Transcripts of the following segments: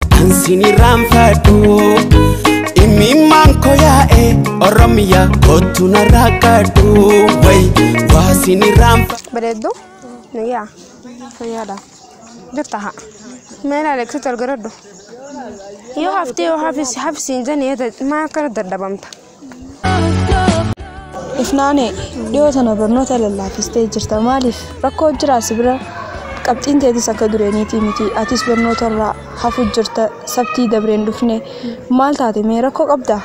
Kan sinirraan fadhu Imimmaan ko yaa'e Oromiyaa kottu narraa kadhu Way waa sinirraan fadhu Bareeddu? Nuyyaa? Fayyaadha. Jirta haa? Mee ilaali eegsitu argaradhu. Yoo haftee yoo hafis hafisiin jennee maa akkana dadhabamta? Ifnaanee dhiyoo tana barnoota lallaafistee jirta maaliif rakkoo jiraa si bira qabxiin teetis akka dureeniitii miti atis barnoota irraa hafu jirta sabtii dabreen dhufne maal taate mee rakkoo qabdaa?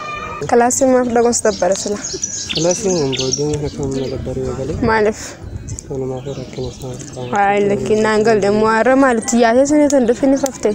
Kilaasii maaf dhaquus dabbara sila. Kilaasii hin boodin akka humna dabbaree eegale Maaliif? walumaa fi rakkina isaa qaama. Waa'ee lakkinnaan galle immoo har'a maalitti yaasee suniitu hin dhufin faftee.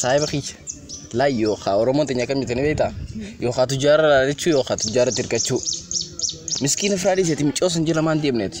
Saahiba kiyya. Laa yookaa Oromoon teenya akkam jettanii beektaa? Yookaa tujjaara laalachuu yookaa tujjaara tirkachuu. Miskiina firaa dhiiseeti micoo san jala maan deemneeti.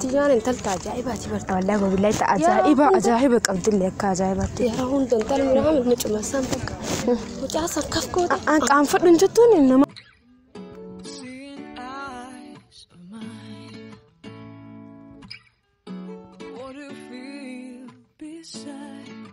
Tiyyaan intalta ajaa'ibaati barta. Wallaahi wabillahi ta ajaa'iba ajaa'iba qabdillee akka ajaa'ibaatti. Yeroo hunda intalli miraa mucuma san bakka. Mucaa san kaf goota. An qaanfadhu hin jettuun nama. Seeing eyes of mine. What do you feel beside?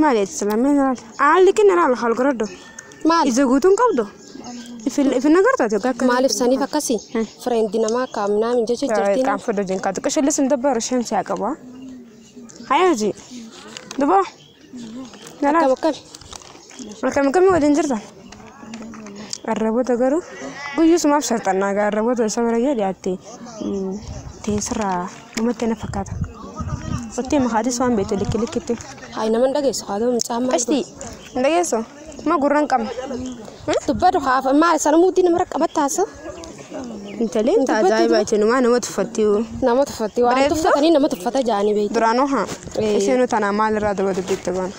Maali ati silaa mee ilaali. Aan liqin irraa lafa ol goroddo. Maali? Ija guutuu hin qabdu. Ifin agartaa joggaa akka. Maaliif saniif akkasii? Fireendi namaa akka amnaa min jecha jirtiin. Kan fedhu jin kaatu qishilli sun dabbaru shan siyaa qaba. Hayaa hojii. Dubaa. Akkam akkami? Akkam akkamii waliin jirtan? Arraboota garuu guyyusumaaf sharxannaa gaa arraboota isa bira yoo dhiyaatte teessirraa dhumatti na fakkaata. Ottee makaatis waan beektu likki likkitti. Hayi nama hin dhageessu haa ta'u mucaan maal Qashtii hin dhageessu? Ma gurra hin qabne. dubbatu haafa maal sana muudii nama raqqabatta haasa Intalli inta ajaa'iba jechuunumaa nama tuffattiyu. nama tuffatte waan Bareedu. tuffatanii nama tuffata jaanii beektu. Duraanoo haa Ee. isheen tanaa maalirraa daba dubbiitti baana.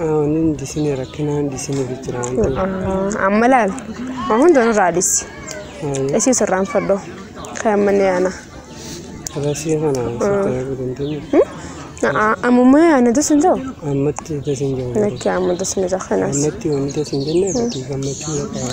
Aanin disine rakkinaan disine jijjiraan. Amma laal. Waan hunda nurraa dhisi. Isii sirraan fadhoo. Kan manni yaana. Rasii kana sitti arguu dandeenyu. Amummaa yaana dasin ta'u. Ammatti dasin jiru. Lakki amma dasni ta'u kanas. Ammatti wanti dasin jenne fakkii gammachuu qaba.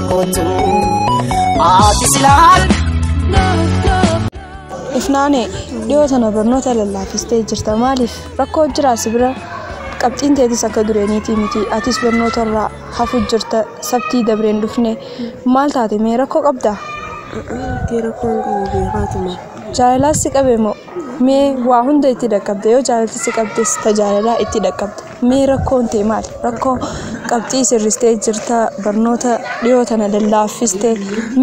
kootu ati silaan. Ifnaanee dhiyoo tana barnoota lallaafistee jirta maaliif rakkoo jiraa si bira qabxiin teetis akka dureeniitii miti atis barnoota irraa hafu jirta sabtii dabreen dhufne maal taate mee rakkoo qabdaa Ati rakkoon qabu beekaatuma. jaalalaas si qabe moo mee waa hunda itti dhaqqabda yoo jaalalti si qabdes ta jaalalaa itti dhaqqabda Mee rakkoon tee maal? Rakkoo qabxii sirristee jirta barnoota dhiyoo tana lallaaffiste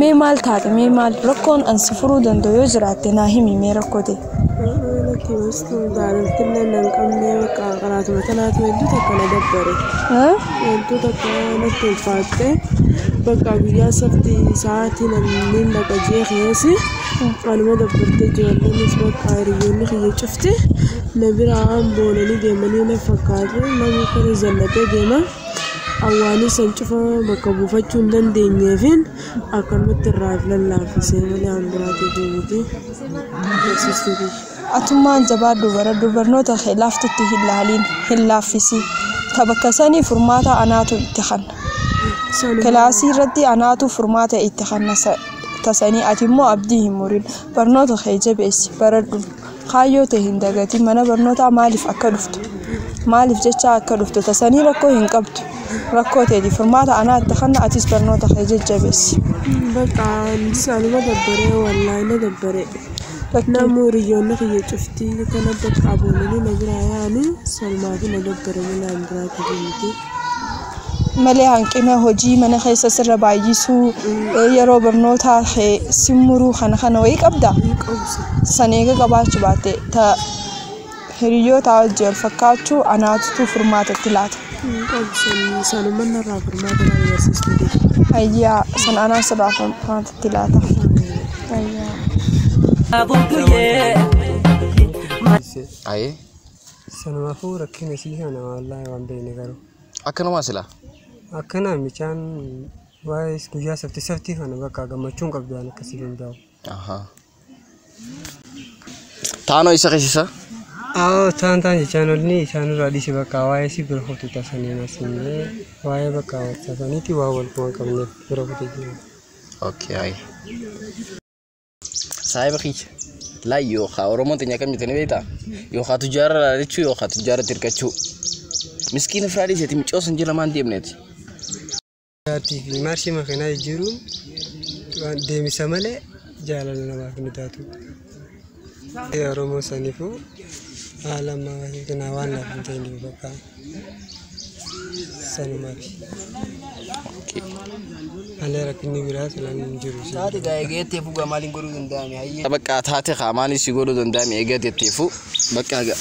mee maal taate mee maal rakkoon an si furuu danda'u yoo jiraatte naa himi mee rakkoo tee. Lakki wastu jaalaltillee nan qabnee bakka qaraatuma tanaatu hedduu takka na dabbare. Haa? Hedduu takka natti ulfaatte bakka guyyaa sabti sa'aatii namni laqa jee keessi anuma dabbartee ijoolleen bakka hiriyyoonni kiyya cufti. Na biraa boonanii deemanii na fakkaatu namni kun zallatee deema awwaanii san cufa bakka buufachuu hin dandeenyeefiin akkanumatti irraa of lallaafisee malee an biraatiif miti barsiistuuti. Atummaan jabaadhu baradhu barnoota kee laaftutti hin laaliin hin laaffisiin ta bakka sanii furmaata anaatu itti kanna. Sanuma Kilaasii irratti anaatu furmaata itti kanna sa- tasanii ati immoo abdii hin murin barnoota kee jabeessi baradhu. Kaayyoo tee hin dagatin mana barnootaa maaliif akka dhuftu maaliif jechaa akka dhuftu tasanii rakkoo hin qabdu rakkoo teeti furmaata anaa itti kanna atis barnoota kee jajjabeessi. Baqa lisa anuma dabbare wallahi na dabbare namu hiriyyoonni kiyya cuftii kana bakka aboolanii na biraa yaani sanumaafuu na dabbare malee waan biraa ta'ee miti. malee hanqina hojii mana keessa sirra baay'isuu yeroo barnootaa kee si muruu kana kana wayii qabda san eega qabaachuu baatte ta hiriyyootaa wajjin wal fakkaachuu anaatutu furmaata itti laata. Ayyaa san anaa sirraa furmaata itti laata. Ayyaa. Aye. Sanumaafuu rakkina isii kana wallahi waan beekne garuu. Akkanumaa silaa. Akkana micaan waa'ee guyyaa safti saftii kana bakka gammachuun qabdu waan akkasii hin daa'u. Ahaa. Taanoo isa keessisa. Aawoo taan taan jechaan olni isaan irraa dhiise bakka waa'ee si bira kutu tasanii masinee waa'ee bakka tasaniiti waa wal waan qabneef bira kutu jira. Okay, ayi. Saahiba kiyya. Laa yookaa Oromoon teenya akkam jettanii beektaa? Yookaa tujjaara laalachuu yookaa tujjaara tirkachuu. Miskiina firaa dhiiseeti micoos hin jira maan deemneeti. Jaatii fi maarshii makiinaa jijjiiruun waan deemsa malee jaalala namaaf hin taatu. Oromoo saniifuu haala ammaa kana waan naaf hin ta'iniif bakka. Sanumati. Malee rakkinni biraa silaan hin jiru. Taate gaa eegeettee fugaa maaliin godhuu danda'ame hayyee. Bakka taate kaa maaliin si godhuu danda'ame eegaa jetteefu bakka gaa.